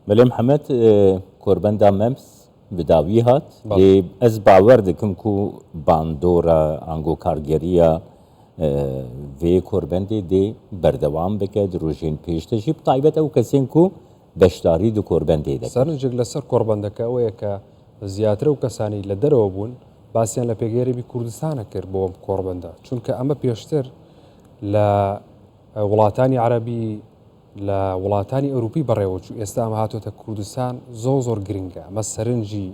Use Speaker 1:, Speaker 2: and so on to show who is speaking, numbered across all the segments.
Speaker 1: مەلێ محەمەد کۆربەندا مەمس بداوی هات ئەز باوەەر دکم و باندۆرە ئەنگۆ کارگەریە vê کۆربەندێ دێ بەردەوام بکە درۆژێن پێشتەژی تایبەت ئەو کەسێن و بەشداری دو کۆربەندێ دە سەرنجێک لەسەر کۆربەندەکە
Speaker 2: ئەوەیە کە زیاترە و کەسانی لە دەرەوە بوون باسییان لە پێگەێریبی کوردستانە کرد بۆم کۆربەندە چونکە ئەمە پێشتر لە وڵاتانی عربی لە وڵاتانی ئەوروپی بەڕێوەچوو ئێستا ئەمە هاتۆتە کوردستان زۆر زۆر گرنگە ئەمە سەرنجی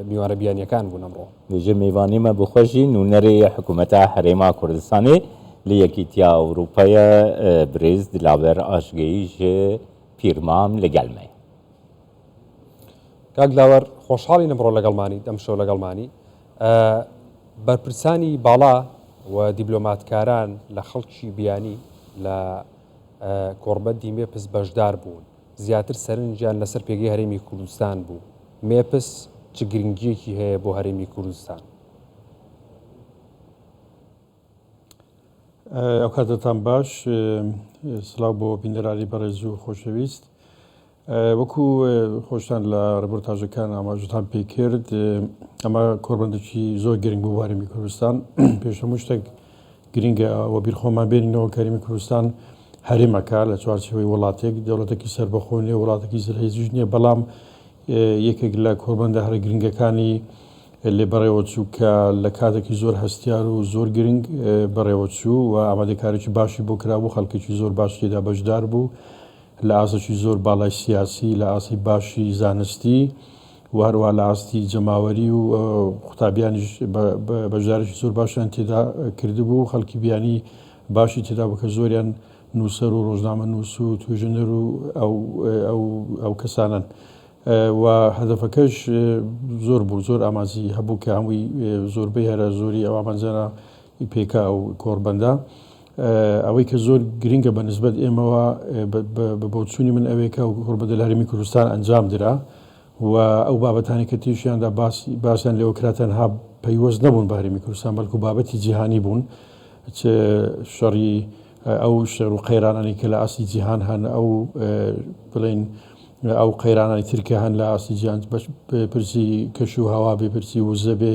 Speaker 2: میوانە بیانیەکان بوون ئەمڕۆ. بژی میوانی مە
Speaker 1: بخوەشی نونەرێ یە حکومەتا هەرێما کوردستانێ لە یەکیتیا ئەوروپایە برێز دلاوەر ئاشگەیی ژ پیر مام لە گەل مەیە.
Speaker 2: کاک دلاوەر خۆشحاڵین ئەمڕۆ لەگەڵمانیت ئەم شەو لەگەڵمانی بەرپرسانی باڵا و دیبلۆماتکاران لە خەڵکی بیانی لە کۆڕبەند ی مێپس بەشدار بوون، زیاتر سەرنجیان لەسەر پێگەی هەرێمی کوردستان بوو، مێپس چ گرنگییەکی هەیە بۆ هەرێمی کوردستان؟
Speaker 3: ئەوکاتەتان باش، سڵاو بۆ بینەرانی بەڕێز و خۆشەویست. وەکو خۆشتان لە رپۆرتاژەکان ئاماژەتان پێ کرد، ئەمە کۆڕبەندێکی زۆر گرنگ بوو بۆ هەرێمی کوردستان. پێش هەموو شتێک گرنگە ئەوە بیر خۆمان بێنینەوە کە هەرێمی کوردستان هەرێمەکە لە چوارچێوەی وڵاتێک، دەوڵەتێکی سەربەخۆ نییە، وڵاتێکی زلهێزیش نییە، بەڵام یەکێک لە کۆڕبەندە هەرە گرنگەکانی لێ بەڕێوەچوو کە لە کاتێکی زۆر هەستیار و زۆر گرنگ بەڕێوەچوو و ئامادەکاریی باشی بۆ کرابوو، خەڵکێکی زۆر باش تێدا بەشدار بوو. لە ئاستێکی زۆر باڵای سیاسی، لە ئاستی باشی زانستی و هەروەها لە ئاستی جەماوەری و قوتابیانیش بەشدارێکی زۆر باشیان تێدا کردبوو، خەڵکی بیانی باشی تێدا بوو کە زۆریان نووسەر و ڕۆژنامە نووس و توێژەنەر و ئەو کەسانەن. و هەدەفەکەش زۆر بوو زۆر ئامانجی هەبوو کە هەمووی زۆربەی هەرە زۆری ئەو ئامانجانە ی پیکا و کۆڕبەندە. ئەوەی کە زۆر گرنگە بە نسبەت ئێمەوە بە بۆچوونی من ئەوەیە کە ئەو کۆڕبەندە لە هەرێمی کوردستان ئەنجام درا و ئەو بابەتانەی کە تێشیان دا باسیان لێوە کرا تەنها پەیوەست نەبوون بە هەرێمی کوردستان بەڵکوو بابەتی جیهانی بوون چ شەڕی ئەو شەڕ و قەیرانانەی کە لە ئاستی جیهان هەن ئەو بڵێن ئەو قەیرانانی تر کە هەن لە ئاستی جیهان بەش پرسی کەش و هەوا بێ پرسی وزە بێ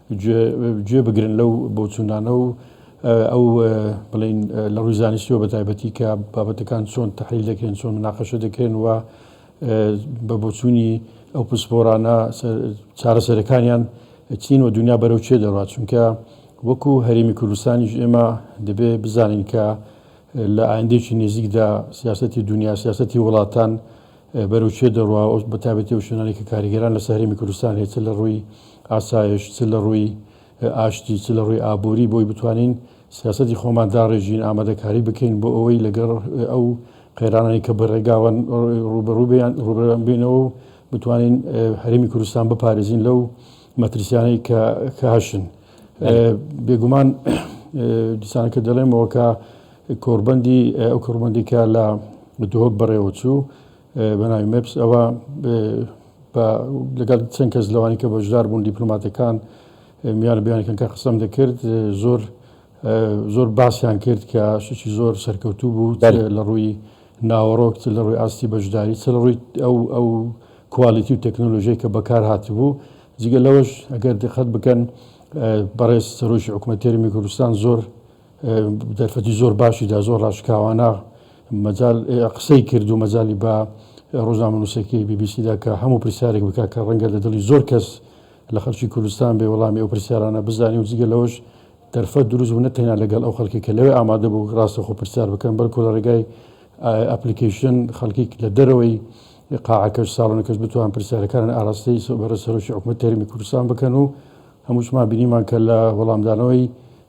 Speaker 3: گوێ بگرن لەو بۆچوونانە و ئەو بڵێن لە ڕووی زانستیەوە بە تایبەتی کە بابەتەکان چۆن تحلیل دەکرێن چۆن مناقەشە دەکرێن و بە بۆچوونی ئەو پسپۆرانە چارەسەرەکانیان چین و دنیا بەرەو چێ دەڕات چونکە وەکو هەرێمی کوردستانیش ئێمە دەبێ بزانین کە لە ئایندێکی نێزیکدا سیاستی دنیا سیاستی وڵاتان بەرەو کوێ دەڕوا و بە تایبەتی ئەو شوێنانەی کە کاریگەران لەسەر هەرێمی کوردستان هەیە چ لە ڕووی ئاسایش چ لە ڕووی ئاشتی چ لە ڕووی ئابووری بۆی بتوانین سیاسەتی خۆمان داڕێژین ئامادەکاری بکەین بۆ ئەوەی لەگەڕ ئەو قەیرانانی کە بە ڕێگاوە ڕووبەڕووبیان ڕووبەڕوویان بینەوە و بتوانین هەرێمی کوردستان بپارێزین لەو مەترسیانەی کە کە هەشن بێگومان دیسانەکە دەڵێمەوە کە کۆڕبەندی ئەو کۆڕبەندی کە لە دهۆک بەڕێوە چوو بە ناوی مپس ئەوە لەگەڵ چەند کەس لەوانی کە بەشدار بوون دیپلۆماتەکان میوان بیانەکەن کە قسەم دەکرد زۆر زۆر باسیان کرد کە شتێکی زۆر سەرکەوتوو بوو لە ڕووی ناوەڕۆک چ لە ڕووی ئاستی بەشداری چ لە ڕووی ئەو ئەو کوالیتی و تەکنۆلۆژیای کە بەکار هاتبوو جگە لەوەش ئەگەر دقت بکەن بەڕێز سەرۆکی حکوومەت تێرمی کوردستان زۆر دەرفەتی زۆر باشی دا، زۆر ڕاشکاوانە مەجال قسەی کرد و مەجالی بە ڕۆژنامەنووسەکەی بی بی سی دا کە هەموو پرسیارێک بکات کە ڕەنگە لە دڵی زۆر کەس لە خەڵکی کوردستان بێ وەڵامی ئەو پرسیارانە بزانێ و جگە لەوەش دەرفەت دروست بوو نە تەنیا لەگەڵ ئەو خەڵکی کە لەوێ ئامادە بوو ڕاستەخۆ پرسیار بکەن بەڵکو لە ڕێگای ئەپلیکەیشن خەڵکی لە دەرەوەی قاعەکەش ساڵۆنەکەش بتوان پرسیارەکانن ئاراستەی بەڕێز سەرۆکی حکوومەت تەرمی کوردستان بکەن و هەمووشمان بینیمان کە لە وەڵامدانەوەی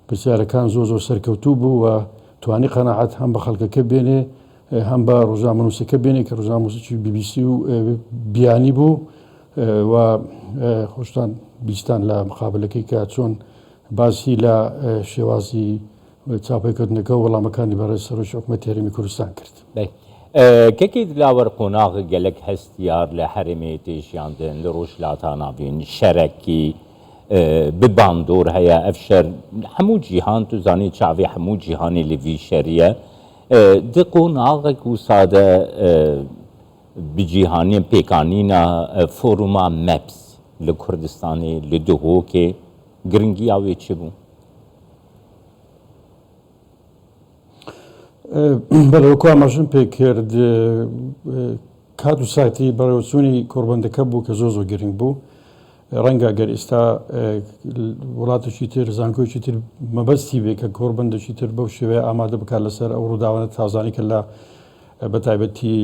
Speaker 3: پرسیارەکان زۆر زۆر سەرکەوتوو بوو و توانی قەناعەت هەم بە خەڵکەکە بێنێ هەم بە ڕوژنامەنووسەکە بێنێ کە ڕوژنامەنووسەکی بی بی سی و بیانی بوو و خۆشتان بیستان لە مقابلەکەی کە چۆن باسی لە شێوازی چاپەیکردنەکە و وەڵامەکانی بەڕێز سەرۆکی حکومەت هەرێمی کوردستان کرد.
Speaker 1: کەکەی دلاوەر قۆناغ گەلەک هەستیار لە هەرێمێ تێ ژیاندن لە ڕوژ لاتاناڤین شەرەکی، بە باندۆر هەیە ئەڤ شەر هەموو جیهان تو زانی چاڤی هەموو جیهانی لە ڤی شەریە د قۆناغەک و سادە بە جیهانیە پێکانینا فۆروما مەپس لە کوردستانی لە دهۆکێ گرنگیا وێ چ بوو؟
Speaker 3: بەلێ وەکو ئاماژەم پێ کرد کات و ساتی بەڕێوەچوونی کۆڕبەندەکە بوو کە زۆر زۆر گرنگ بوو ڕەنگە گەر ئیستا وڵاتێکی تر زانکۆیەکی تر مەبەستی بێ کە کۆڕبەندەکی تر بەو شێوەیە ئامادە بکات لەسەر ئەو ڕووداوانە تازانەی کە لە بە تایبەتی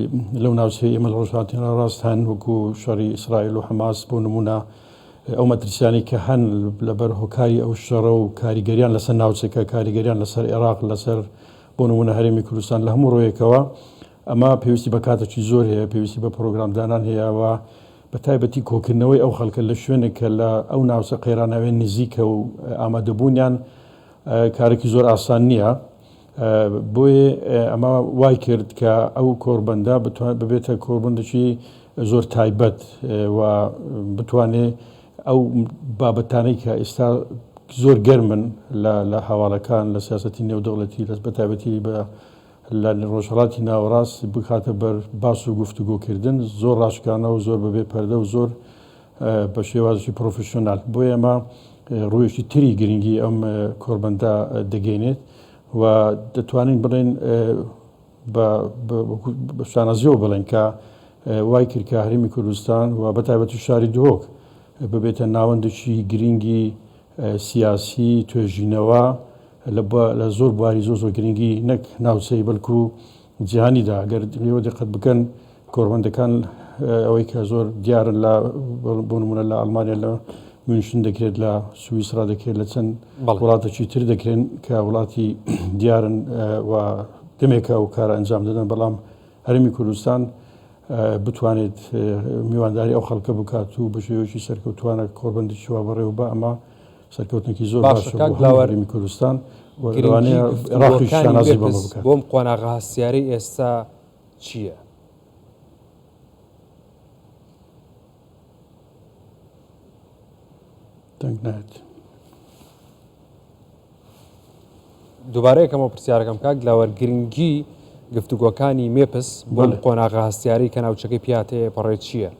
Speaker 3: لەو ناوچەی ئێمە لە ڕۆژهاتی ناڕاست هەن وەکو شەڕی ئیسرائیل و حەماس بۆ نمونە ئەو مەترسیانەی کە هەن لەبەر هۆکاری ئەو شەڕە و کاریگەریان لەسەر ناوچەکە کاریگەریان لەسەر عێراق لەسەر بۆ نمونە هەرێمی کوردستان لە هەموو ڕوویەکەوە ئەمە پێویستی بە کاتەکی زۆر هەیە پێویستی بە پرۆگرامدانان هەیە و بە تایبەتی کۆکردنەوەی ئەو خەڵکە لە شوێنێک کە لە ئەو ناوچە قەیراناویە نزیکە و ئامادەبوونیان کارێکی زۆر ئاسان نییە. بۆیێ ئەمە وای کرد کە ئەو کۆڕبەندە بتوا ببێتە کۆڕبەندێکی زۆر تایبەت و بتوانێ ئەو بابەتانەی کە ئێستا زۆر گەرمن لە لە هەواڵەکان لە سیاسەتی نێودەوڵەتی لەس بە تایبەتی بە لە ڕۆژهەڵاتی ناوەڕاست بکاتە بەر باس و گفتوگۆ کردن زۆر ڕاشکانە و زۆر بەبێ پەردە و زۆر بە شێوازی پرۆفیشۆنال بۆ ئێمە ڕوویەکی تری گرنگی ئەم کۆربەندە دەگەینێت و دەتوانین بڵێن بە شانازیەوە بڵێن کە وای کرد کە هەرمی کوردستان و بەتایبەتی شاری دهۆک ببێتە ناوەندێکی گرنگی سیاسی توێژینەوە لە زۆر بواری زۆر زۆر گرنگی نەک ناوچەی بەلکو جیهانیدا گەر لێوە دقت بکەن کۆربەندەکان ئەوەی کە زۆر دیارن لە بۆ نمونە لە ئەلمانیا لە میونشن دەکرێت لە سوئیسرا دەکرێت لە چەند وڵاتەکی تر دەکرێن کە وڵاتی دیارن و دەمێکە و کارە ئەنجام دەدەن بەڵام هەرمی کوردستان بتوانێت میوانداری ئەو خەڵکە بکات و بە شێوەیەکی سەرکەوتووانە کۆڕبەندێکی وا بەڕێوە بە ئەمە سەرکەوتنێکی زۆر باشە باشە بۆ کاک هەموو بلاوەر هەرێمی کوردستان و گرنگی لەوانەیە عێراقیش گفتوگۆکانی شانازی بەمە وێبز بکات. بۆم قۆناغە هەستیارەی
Speaker 2: ئێستا چییە؟
Speaker 3: دەنگ نایەت.
Speaker 2: دووبارە یەکەمەوە پرسیارەکەم کاک دلاوەر گرنگی گفتوگۆکانی مێپس بۆ بەڵێ. قۆناغە هەستیاری کە ناوچەکەی پیاتەیە پەڕێ چییە؟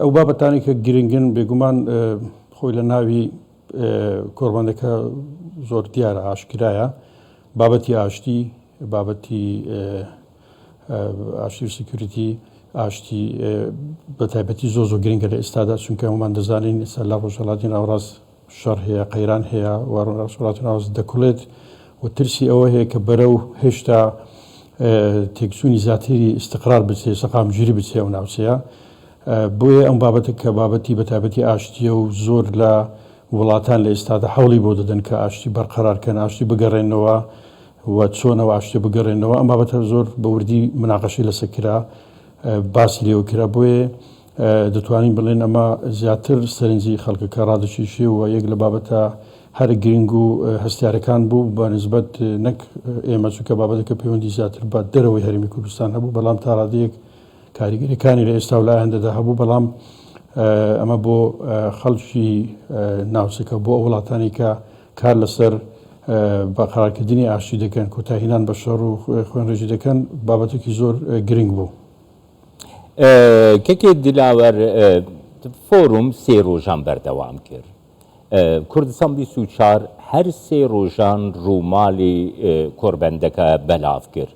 Speaker 3: ئەو بابەتانی کە گرنگن بێگومان اه، خۆی لە ناوی اه، کۆڕبەندەکە زۆر دیارە ئاشکرایە بابەتی ئاشتی بابەتی ئاشتی و سیکیوریتی ئاشتی بە تایبەتی زۆر زۆر گرنگە لە ئێستادا چونکە هەموومان دەزانین ئێستا لە ڕۆژهەڵاتی ناوەڕاست شەڕ هەیە قەیران هەیە و ڕۆژهەڵاتی ناوەڕاست دەکوڵێت و ترسی ئەوە هەیە کە بەرەو هێشتا تێکچوونی زیاتری ئیستقرار بچێ سەقامگیری بچێ ئەو ناوچەیە بۆیە ئەم بابەتە کە بابەتی بە تایبەتی ئاشتیە و زۆر لە وڵاتان لە ئێستادا حوڵی بۆ دەدەن کە ئاشتی بەرقەرارکەن ئاشتی بگەڕێنەوە و چۆن ئەو ئاشتیە بگەڕێنەوە ئەم بابەتە زۆر بە وردی مناقەشەی لەسەر کرا باسی لێوە کرا بۆیە دەتوانین بڵێن ئەمە زیاتر سەرنجی خەڵکەکە ڕادەکیشێ و یەک لە بابەتە هەر گرنگ و هەستارەکان بوو بە نسبەت نەک ئێمە چونکە بابەتەکە پەیوەندی زیاتر بە دەرەوەی هەرمی کوردستان هەبوو بەڵام تا ڕادەیەک کاریگەریەکانی لە ئێستا و لە ئایندەدا هەبوو بەڵام ئەمە بۆ خەڵکی ناوچەکە بۆ ئەو وڵاتانی کە کار لەسەر بەقەرارکردنی ئاشتی دەکەن، کۆتایهێنان بە شەڕ و خوێنڕێژی دەکەن، بابەتێکی زۆر گرنگ بوو.
Speaker 1: کەکێ دلاوەر فۆروم سێ ڕۆژان بەردەوام کرد. کوردستان بیست و چوار هەر سێ ڕۆژان ڕووماڵی کۆڕبەندەکە بەلاڤ کرد.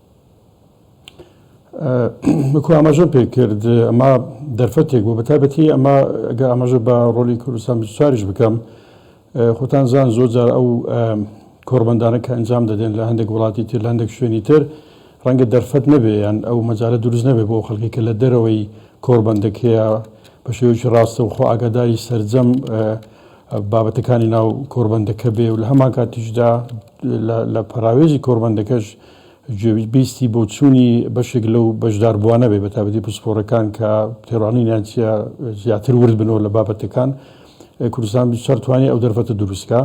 Speaker 3: کو ئاماژە پێ کرد ئەمە دەرفەتێک بوو بە تایبەتی ئەمە گە ئاماژە بە ڕۆلی کوردستان چاریش بکەم خۆتان زان زۆر جار ئەو کۆربندانە کە ئەنجام دەدەن لە هەندێک وڵاتی تر لە هەندێک شوێنی تر ڕەنگە دەرفەت نەبێ یان ئەو مەجارە دروست نەبێ بۆ خەڵکی کە لە دەرەوەی کۆربندەکەیە بە شێوکی ڕاستە و خۆ ئاگاداری سرجەم بابەتەکانی ناو کۆربندەکە بێ و لە هەمان کاتیشدا لە پەراوێزی کۆربندەکەش گوێبیستی بۆچوونی بەشێک لەو بەشداربووانە بێ، بەتایبەتی پسپۆڕەکان کە تێڕوانینیان چییە، زیاتر ورد بنەوە لە بابەتەکان. کوردستان چەر توانی ئەو دەرفەتە دروست کا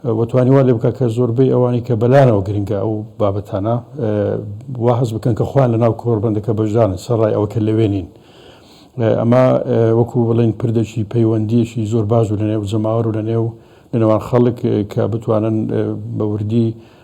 Speaker 3: و توانی وا لێ بکا کە زۆربەی ئەوانەی کە بەلایانەوە گرنگە ئەو بابەتانە وا هەست بکەن کە خۆیان لەناو کۆڕبەندەکە بەشدارن سەرەڕای ئەوە کە لەوێ نین. ئەمە وەکوو بڵێین پردێکی پەیوەندییەکی زۆر باش بوو لەنێو جەماوەر و لەنێو لەنێوان خەڵک کە بتوانن بە وردی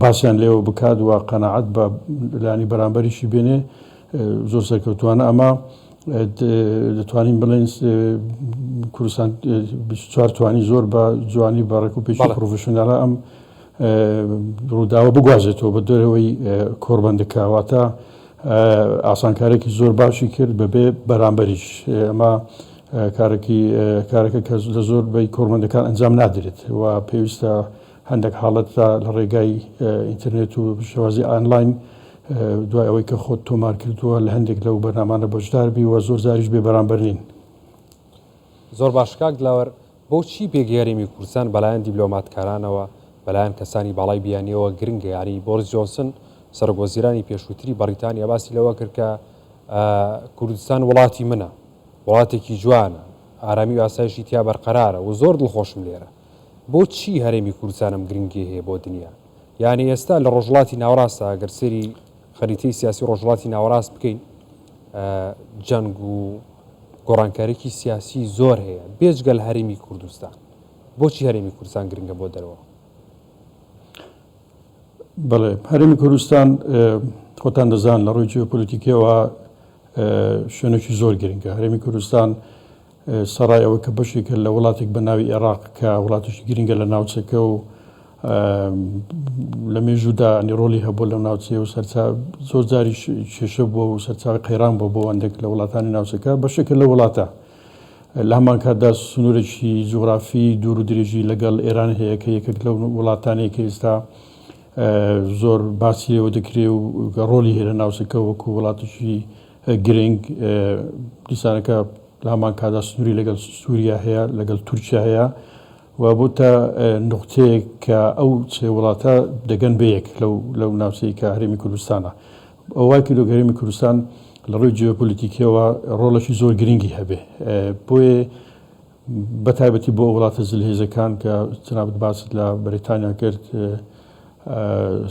Speaker 3: باسیان لێوە بکات و قەناعەت بە لانی بەرامبەریشی بێنێ زۆر سەرکەوتوانە ئەمە دەتوانین بڵێن کوردستان چوار توانی زۆر بە جوانی بە ڕێک و پێشی پرۆفشنناە ئەم ڕووداوە بگوازێتەوە بە دەرەوەی کۆربندکاواتە ئاسانکارێکی زۆر باشی کرد بەبێ بەرامبەریش ئەمە کارێکی کارەکە کە لە زۆر بەی کۆرمەندەکان ئەنجام نادرێت و پێویستە هەندێک حاڵەت جا لە ڕێگای ئینتەرنێت و شێوازی ئانلاین دوای ئەوەی کە خۆت تۆمار کردووە لە هەندێک لەو بەرنامانە بەشدار بی و زۆر جاریش بێ بەرامبەر نین.
Speaker 2: زۆر باش کاک دلاوەر، بۆچی پێک هێرمی کوردستان بەلایەن دیبلۆماتکارانەوە بەلایەن کەسانی باڵای بیانیەوە گرنگە یانی بۆریس جۆنسن سەرۆک وەزیرانی پێشووتری بەڕیتانیا باسی لەوە کرد کە کوردستان وڵاتی منە وڵاتێکی جوانە ئارامی و ئاسایشی تیا بەرقەرارە و زۆر دڵخۆشم لێرە بۆ چی هەرێمی کوردستان ئەم گرنگیە هەیە بۆ دنیا؟ یانی ئێستا لە ڕۆژهڵاتی ناوەڕاستە ئەگەر سەیری خەریتەی سیاسی ڕۆژهڵاتی ناوەڕاست بکەین جەنگ و گۆڕانکاریکی سیاسی زۆر هەیە بێجگەل هەرێمی کوردستان بۆچی هەرێمی کوردستان گرنگە بۆ دەرەوە
Speaker 3: بڵێ هەرمی کوردستان خۆتان دەزان لە ڕووی جیۆپۆلیتیکەوە شوێنێکی زۆر گرنگە هەرمی کوردستان سەڕای ئەوەی کە بەشێکە لە وڵاتێک بە ناوی ئێڕاق کە وڵاتێکی گرنگە لە ناوچەکە و لە مێژوودا ڕۆڵی هەبووە لەو ناوچەیە و سەرچاو زۆر جاریش کێشە بووە و سەرچاوی قەیران بووە بۆ هەندێک لە وڵاتانی ناوچەکە بەشێکە لە وڵاتە لە هەمان کاتدا سنوورێکی جوغرافی دوور و درێژی لەگەڵ ئێران هەیە کە یەکێک لەو وڵاتانەیە کە ئێستا زۆر باسی لێوە دەکرێ و ڕۆلی هەیە لە ناوچەکە وەکو وڵاتیشی گرنگ، دیسانەکە لە هەمان کاتدا سنووری لەگەڵ سووریا هەیە، لەگەڵ تورکیا هەیە و بۆتە نوقتەیەک کە ئەو سێ وڵاتە دەگەن بە یەک لەو ناوچەی کە هەرێمی کوردستانە. ئەوە وای کردووە کە هەرێمی کوردستان لە ڕووی جیۆپۆلیتیکییەوە ڕۆڵێکی زۆر گرنگی هەبێ. بۆیە بەتایبەتی بۆ وڵاتە زلهێزەکان کە جەنابت باست لە بەریتانیا کرد،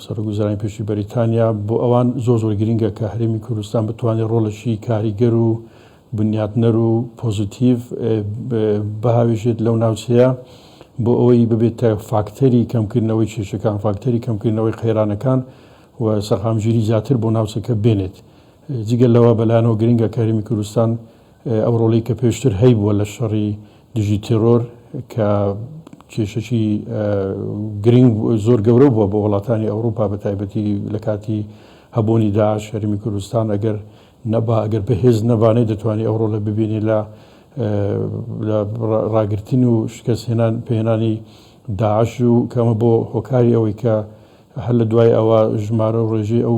Speaker 3: سەرۆک وەزیرانی پێشووی بەریتانیا، بۆ ئەوان زۆر زۆر گرنگە کە هەرێمی کوردستان بتوانێت ڕۆڵێکی کاریگەر و بنیاتنەر و پۆزیتیڤ بهاوێژێت لەو ناوچەیە بۆ ئەوەی ببێتە فاکتەری کەمکردنەوەی کێشەکان، فاکتەری کەمکردنەوەی قەیرانەکان و سەقامگیری زیاتر بۆ ناوچەکە بێنێت. جگە لەوە بەلایانەوە گرنگە کە هەرێمی کوردستان ئەو ڕۆڵەی کە پێشتر هەیبووە لە شەڕی دژی تێرۆر کە کێشەکی گرنگ زۆر گەورە بووە بۆ وڵاتانی ئەوروپا بە تایبەتی لە کاتی هەبوونی داعش هەرمی کوردستان ئەگەر نەبا ئەگەر بەهێز نەبانێ دەتوانێت ئەو ڕۆلە ببینێ لە لە ڕاگرتن و شکستهێنان پێهێنانی داعش و کەمە بۆ هۆکاری ئەوەی کە هەر لە دوای ئەوە ژمارە و ڕێژەی ئەو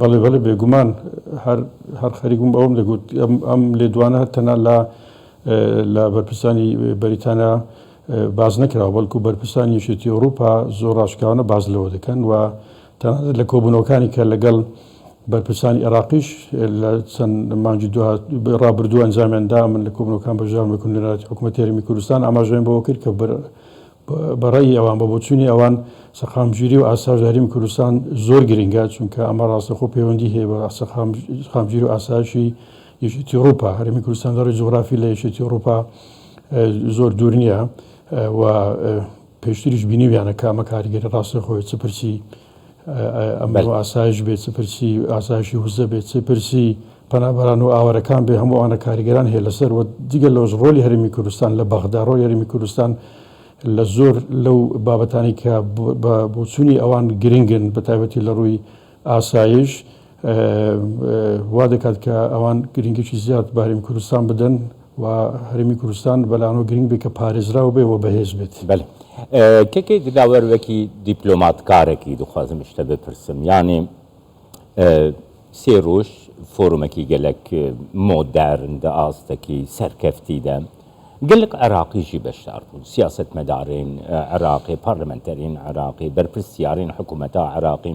Speaker 2: بەڵێ
Speaker 3: بەڵێ بێگومان هەر هەر خەریک بووم ئەوەم دەگوت ئەم لێدوانە هەر تەنها لە لە بەرپرسانی بەریتانیا باز نەکراوە بەڵکو بەرپرسانی یەکێتی ئەوروپا زۆر ڕاشکاوانە باز لەوە دەکەن و تەنانەت لە کۆبوونەوەکانی کە لەگەڵ بەرپرسانی عێراقیش لە چەند مانگی ڕابردوو ئەنجامیاندا من لە کۆبنەکان بەژان بکن لەناتی حکوومەت تێرمی کوردستان ئاماژەیان بەوە کرد کە بە ڕەئی ئەوان، بە بۆچوونی ئەوان سەقامگیری و ئاسایش هەرێمی کوردستان زۆر گرینگە، چونکە ئەمە ڕاستەخۆ پەیوەندی هەیە بە سەقامگیری و ئاسایشی یەکێتی ئوڕووپا. هەرێمی کوردستان لە ڕووی جوغرافی لە یەکێتی ئوڕووپا زۆر دوور نییە و پێشتریش بینیویانە کە ئەمە کاریگەری ڕاستەخۆی چ پرسی ئەمن و ئاسایش بێ چ پرسی ئاسایشی وزە بێ چ پرسی پەنابەران و ئاوارەکان بێ هەموو ئەوانە کاریگەران هەیە لەسەر و جگە لەوەش ڕۆلی هەرمی کوردستان لە بەغدا ڕۆی هەرمی کوردستان لە زۆر لەو بابەتانی کە بۆچوونی ئەوان گرنگن بە تایبەتی لە ڕووی ئاسایش وا دەکات کە ئەوان گرنگیی زیاد بە هەرێمی کوردستان بدەن و هەرێمی کوردستان بە لانەوە گرنگ بێت کە پارێزراو بێت و بەهێز بێت. بەلی کەکەی
Speaker 1: دلاوەر وەکی دیپلۆمات کارەکی دخوازم شتە بپرسم یانی سێ رووژ فۆرومەکی گەلەک مۆدەرن دە ئاستەکی سەرکەفتی دە گەلک عراقی ژی بەشدار بوون سیاسەتمەدارین عراقی پارلمنتەرین عراقی بەرپرسیارین حکومەتا عراقی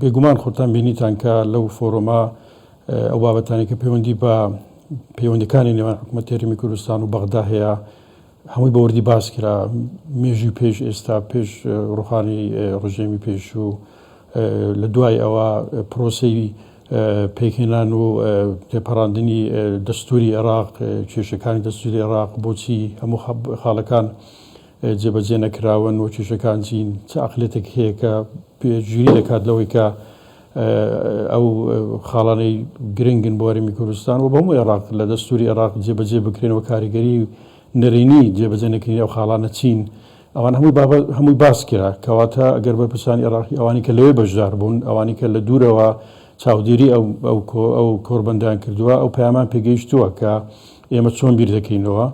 Speaker 3: بێگومان خۆتان بینیتان کە لەو فۆرۆمە ئەو بابەتانی کە پەیوەندی بە پەیوەندەکانی نێوان حکوومەت تێریمی کوردستان و بەغدا هەیە هەمووی بەوردی باس کرا مێژوی پێش ئێستا پێش ڕوخانی ڕژێمی پێشوو لە دوای ئەوە پرۆسی پێکهێنان و تێپەڕاندنی دەستوری عێراق کێشەکانی دەستوری عێراق بۆچی هەموو خاڵەکان جێبەجێ نەکراون و کێشەکان چین، چ ئەقڵیەتێک هەیە کە پێشگیری دەکات لەوەی کە ئەو خاڵانەی گرنگن بۆ هەرێمی کوردستان و بە هەموو عێراق لە دەستوری عێراق جێبەجێ بکرێن و کاریگەری نەرێنی جێبەجێ نەکردنی ئەو خاڵانە چین؟ ئەوان هەمووی بابەت هەمووی باس کرا کەواتە ئەگەر بەرپرسانی عێراقی ئەوانی کە لەوێ بەشدار بوون ئەوانی کە لە دوورەوە چاودێری ئەو ئەو کۆ ئەو کۆربەندیان کردووە ئەو پەیامان پێگەیشتووە کە ئێمە چۆن بیر دەکەینەوە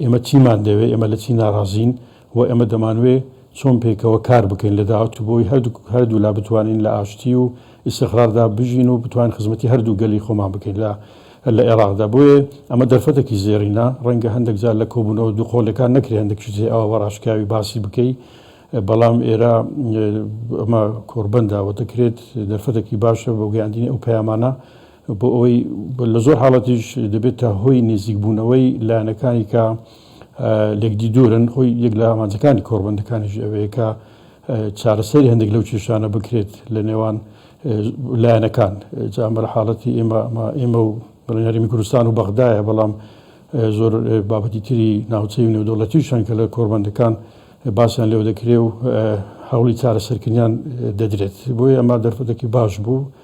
Speaker 3: ئێمە چیمان دەوێت، ئێمە لە چی ناڕازین و ئێمە دەمانوێت چۆن پێکەوە کار بکەین لە داهاتوو بۆی هەردوولا بتوانین لە ئاشتی و ئیستقراردا بژین و بتوانین خزمەتی هەردوو گەلی خۆمان بکەین لە لە ئێراقدا بۆیە ئەمە دەرفەتێکی زێڕینە ڕەنگە هەندێک جار لە کۆبوونەوە دووقۆلەکان نەکرێ هەندێک شتێ ئەوە بەڕاشکاوی باسی بکەی بەڵام ئێرە ئەمە کۆربەنداوە دەکرێت دەرفەتێکی باشە بۆ گەیاندنی ئەو پەیامانە بۆ ئەوەی لە زۆر حاڵەتیش دەبێتە هۆی نێزیکبوونەوەی لایەنەکانی کە لێکدی دوورن خۆی یەک لە ئامانجەکانی کۆڕبەندەکانیش ئەوەیە کە چارەسەری هەندێک لەو کێشانە بکرێت لە نێوان لایەنەکان جامەر حاڵەتی ئێمە ئێمە و بڕیاریمی کوردستان و بەغدایە بەڵام زۆر بابەتی تری ناوچەی و نێودەوڵەتی شەن کە لە کۆربەندەکان باسیان لێو دەکرێ و هەوڵی چارەسەرکردیان دەدرێت بۆیە ئەما دەرفەتەکی باش بوو